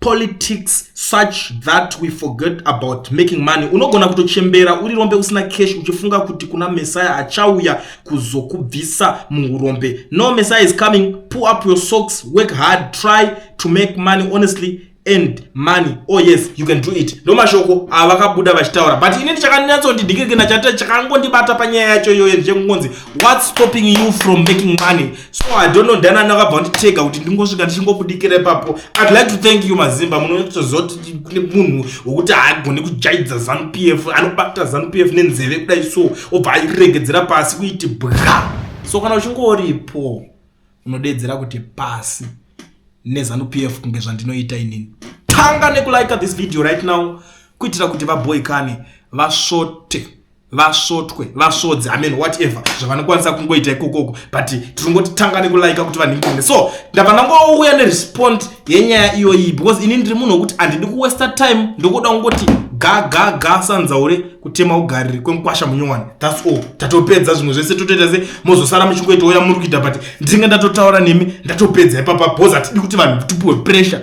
politics such that we forget about making money unogona kutochembera uri rombe usina cash uchifunga kuti kuna messiah achauya kuzokubvisa muurombe no messiah is coming pull up your socks work hard try to make money honestly and money oh yes you can do it ndo mashoko avakabuda vachitaura but ini ndichakanyatsondidikirikina chate chakangondibata panyaya yacho iyoyo ndichengonzi what's stopping you from making money so i don't know ndana nakabva nditega kuti ndingosvika ndichingobudikira ipapo i'd like to thank you mazimba munotoziva kuti kune munhu wekuti haagone kujaidza zanu p f anobata zanu p f nenzeve kudai so obva airegedzera pasi kuiti bwa so kana uchingoripo unodeedzera kuti pasi nezanu p f kunge zvandinoita inini tanga nekulika this video right now kuitira kuti vaboikane vasvote vasvotwe vasvodzi amen whatever zvavanokwanisa kungoita ikokoko but tiringoti tanga nekulaika kuti vanhingine so ndava ndangouya nerespond yenyaya iyoyi because ini ndiri munhu wekuti handidi kuwesta time ndokuda kungoti gagaga sanzaure kutema ugariri kwemukwasha munyowani thats all tatopedza zvimwe zvese totoita se mozosara muchingoita uya muri kuita but ndinge ndatotaura nemi ndatopedza ipapa bcause hatidi kuti vanhu tipuwe pressure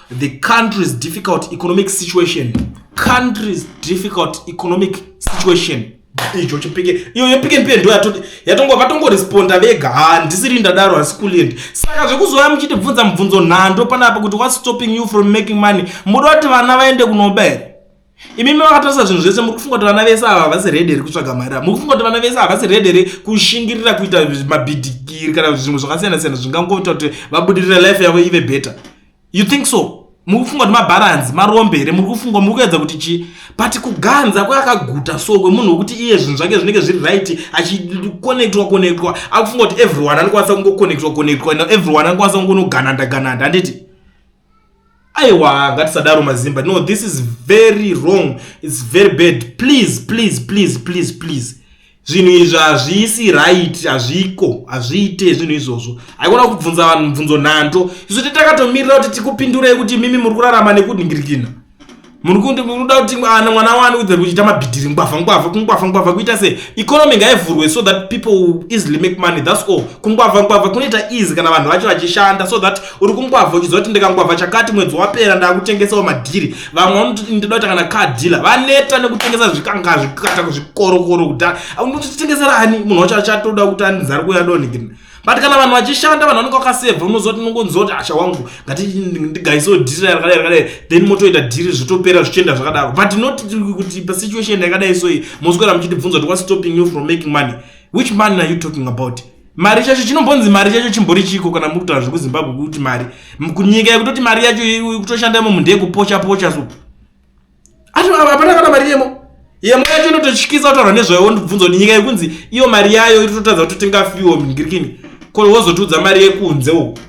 the country's difficult economic situation country's difficult economic situation icho chipike iyo yepike mpendo yatongo vatongoresponda vega handisiri ndadaro hasi kuliendi saka zvekuzouya muchitibvunza mubvunzo nhando panapa kuti whats stopping you from making money muda kuti vana vaende kunoba here imimi makatarisa zvinhu zvese muri kufunga kuti vana vese ava havasi redi here kutsvaga mari a muri kufunga kuti vana vese havasi redi here kushingirira kuita mabhidhikiri kana kuti zvimwe zvakasiyana siyana zvingangoita kuti vabudirire life yavo ive better you think so muri kufunga kuti mabharanzi marombe here muri kufunga muri kuedza kuti chii but kuganza kweyakaguta so kwemunhu wekuti iye zvinhu zvake zvinenge zviri right achikonectwa konectwa akufunga kuti everyone anokwanisa kungokonectwa konectwa everyone anokwanisa kungonogananda gananda handiti aiwa ngatisadaro mazimba no this is very wrong its very bad please please please please please zvinhu izvi hazvisi right hazviko hazviite zvinhu izvozvo haikona kubvunza vanhu mubvunzo nhando isu titakatomiriira kuti tikupindurei kuti mimi muri kurarama nekudingirikina muri kundi munoda kuti ana mwana wani udze kuchiita mabhidhiri ngwavha ngwavha kungwavha ngwavha kuita sei economy ngaivhurwe so that people will easily make money thats all kungwavha ngwavha kunoita easy kana vanhu vacho vachishanda so that uri kungwavha uchiziva kuti ndikangwavha chakati mwedzi wapera ndakutengesawo madhiri vamwe vanoti ndinoda kuti kana car dealer vaneta nekutengesa zvikanga zvikata kuzvikorokoro kudhara unotitengesera ani munhu wacho achatoda kuti anzari kuya donigina but kana vanhu vachishanda vanhu vanenge vakasevha unoziva kuti unongonziva kuti asha wangu ngatindigaisewo dhiri rakadai rakadai then motoita dhiri zvitopera zvichienda zvakadaro but not kuti pasituation yakadai so iyi moswera muchitibvunza kuti wastopping you from making money which money are you talking about mari chacho chinombonzi mari chacho chimbori chiko kana muri kutaura zvekuzimbabwe kuti mari kunyika yekutoti mari yacho kutoshanda imo munhu ndeyekupocha pocha so ati hapana kana mari yemo yemo yacho inototyisa kutaura nezvayo wondibvunza kuti nyika yekunzi iyo mari yayo iri totadza kuti tingafiwo mingirikini ko wozotiudza mari yekunze uku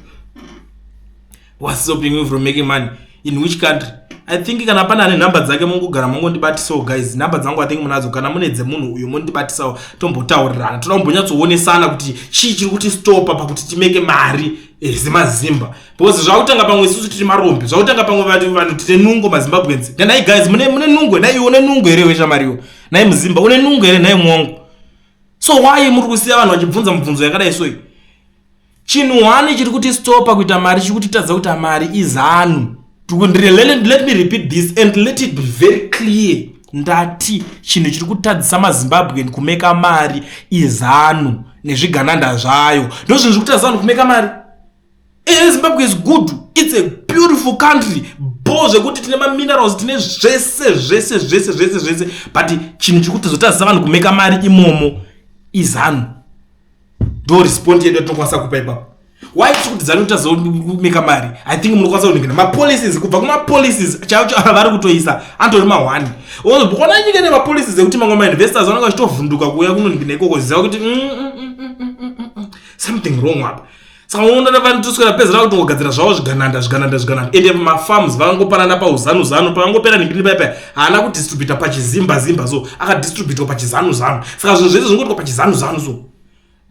was stopping you from making money in which country i think kana pana ane nhamba dzake mungogara mongondibatisawo guys nhamba dzangu i think munadzo kana mune dzemunhu uyo mondibatisawo tombotaurirana toda kumbonyatsoonesana kuti chii chiri kuti stopa pakuti timeke mari ezimazimba eh, because zvakutanga pamwe isusu tiri marombe zvakutanga pamwe vanhu vanhu tine nungo mazimbabwenzi nai guys mune mune nungo nai une nungo here weshamariwo nai muzimba une nungo here nai mwongo so why muri kusiya vanhu vachibvunza mubvunzo yakadai soyi chinhu hwani chiri kuti stopa kuita mari chiri kutitadza kuita mari izanu let me repeat this and let it be very clear ndati chinhu chiri kutadzisa mazimbabwen kumeka mari izanu nezvigananda zvayo ndozvinhu zviri kutadzisa vanhu kumeka mari ehe zimbabwe is good its a beautiful country bo zvekuti tine maminerals tine zvese zvese zvese zvese zvese but chinhu chiri kuti tozotadzisa vanhu kumeka mari imomo izanu ndo respond yedu yatinokwanisa kupa ipapo why tiri kuti zanu tazoumeka mari i think munokwanisa kuningina mapolicies kubva kumapolicies chaivo chaivo avari kutoisa antori mahwani ona nyika nemapolicies ekuti mamwe mainvestors vanenge vachitovhunduka kuuya kunoningina ikoko ziva kuti mm, mm, mm, something wrong apa saka unoona navanotoswera pezera kutongogadzira zvavo zvigananda zvigananda zvigananda ende mafarms vangopanana pauzanu zanu pavangopera nembiri paipa haana kudistributa pachizimba zimba so akadistributwa pachizanu zanu saka zvinhu zvese zvingoitwa pachizanu zanu so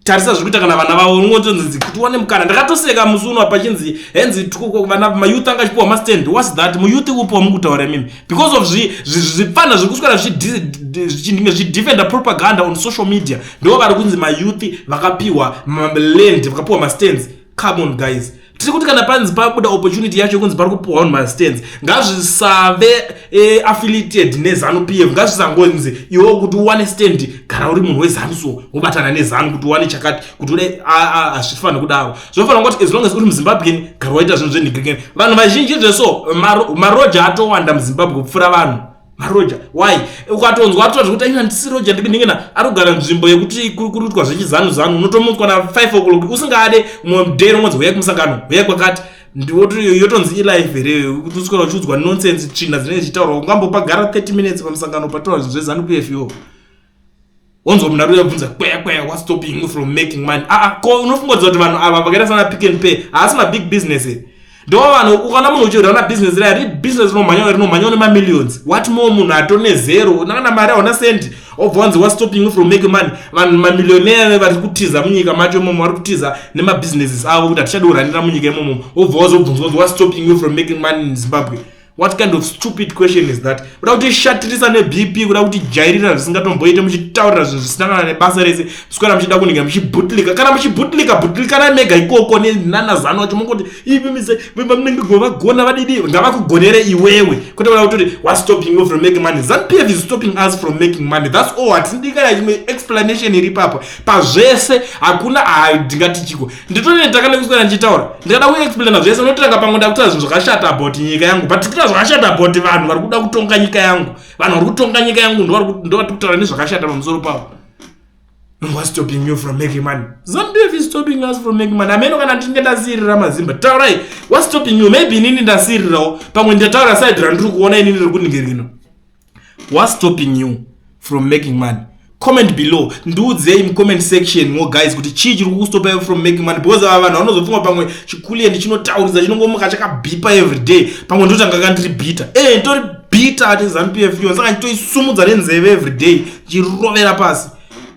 tarisa zviri kuita kana vana vavo unongonzonzi kuti wane mukana ndakatoseka musi uno pachinzi henzi vana mayouth anga achipiwa mastand was that muyouth upo wamukutaura imimi because of zvipfana zviri kuswera zvichinge zvichidefenda propaganda on social media ndivo vari kunzi mayouth vakapiwa maland vakapiwa mastands come on guys tiri kuti kana panzi pabuda opportunity yacho yekunzi pari kupiwa vanhu mastands ngazvisave eh, affiliated nezanu p f ngazvisangonzi iwo kuti uwane stand kana uri munhu wezanu so wobatana nezanu kuti uwane chakati kuti ude hazvifanire kudaro zvinofanira kuti as long as uri muzimbabwean gara waita zvinhu zvenhigikeni vanhu vazhinji zveso maroja atowanda muzimbabwe kupfuura vanhu maroja why ukatonzwa atoa zvekuti aina ndisi roja ndibiningina ari kugara nzvimbo yekuti kuri kuruitwa zvechizanu zanu unotomutswa na 5 o'clock usingade mumwe mudero unonzi huyai kumusangano huyai kwakati yotonzi ilife here kuti uswera uchiudzwa nonsense tsvina dzinenge dzichitaurwa ungambopagara 30 minutes pamusangano pataura zvinhu zvezanu pfo wonzwa munhu ari uyabvunza kweya kweya whats stopping you from making money aa ah, ah, ko unofunga kudza kuti vanhu ava vakaita sana pick and pay haasi mabig business e ndo vanhu ukana munhu uchirwa na business raya ri business rinomhanya rinomhanya une mamillions what more munhu atone zero unakana mari hauna sendi obva wanzi whats stopping you from making money vanhu mamillionaire vari kutiza munyika macho imomo vari kutiza nemabusinesses avo kuti hatichadi kuranira munyika imomo obva wazobvunzwa kuti whats stopping you from making money in zimbabwe what kind of stupid question is that kuda kuti shatirisa nebp kuda kuti jairira zvisingatomboite muchitaurira zvinhu zvisina kana nebasa rese mswera muchida kunenge muchibutlika kana muchibutlika butlikanai mega ikoko nenana zano wacho mongoti ivimise vamunenge govagona vadidi ngavakugonere iwewe kwete kuda kutoti what stopping you from making money zanpf is stopping us from making money thats all hatindikana chimwe explanation iri papa pazvese hakuna haidingati chiko nditonoita kana kuswera ndichitaura ndikada kuexplaina zvese unotanga pamwe ndakutaura zvinhu zvakashata about nyika yangu but tikuta zvakashata about vanhu vari kuda kutonga nyika yangu vanhu vari kutonga nyika yangu ndovari kutaura nezvakashata pamusoro pavo whats stopping you from making money zambf is stopping us from making money ameno kana ndinge ndasiirira mazimba taurai whats stopping you maybe inini ndasiirirawo pamwe ndataura side randiri kuona inini riri kuningirino What's stopping you from making money? Comment below. Ndiudzei mu comment section mo guys kuti chii chiri kukustopa iwe from making money because ava vanhu vanozofunga pamwe chikuliye ndichinotaurisa chinongomuka chakabipa every day pamwe ndotanga ka ndiri bitter. Eh ndori bitter ati ZanuPF yo saka nditoisumudza nenzeve every day chirovera pasi.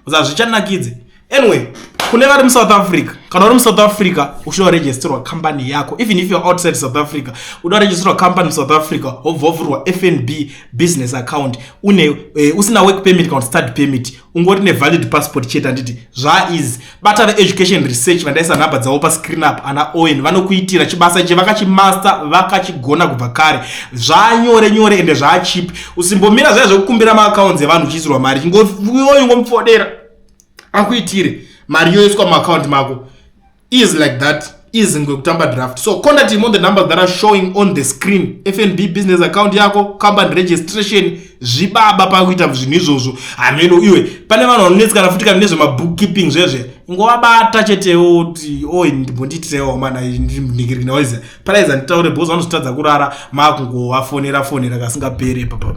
Zazvichanakidze. anyway kune vari musouth africa kana uri musouth africa uchida kuregisterwa company yako even if you're outside south africa uda kuregisterwa company musouth africa hobva wavhurwa fnb business account une uh, usina work permit kana study permit ungori nevalid passport chete anditi zvaiz bata veeducation research vandaisa nhamba dzavo pascreen up ana owen vanokuitira chibasa ichi vakachimaster vakachigona kubva kare zvanyore nyore ende zvaachipi usimbomira zvaya zvekukumbira maaccounts evanhu uchiisirwa mari chingoyoingomufodera akuitire mari yoiswa muaccount mako is like that is ngwekutamba draft so contact him on the numbers that are showing on the screen fnb business account yako company registration zvibaba pakuita zvinhu izvozvo hameno iwe pane vanhu vanonetsikana futi kana nezvemabook keeping zvezve ngovabata chetewo kuti o ndimbondiitirewo mana ndinhikirikinaoiza paraiza nditaure bcause vanozotadza kurara maakungovafonera fonera kasingapere papa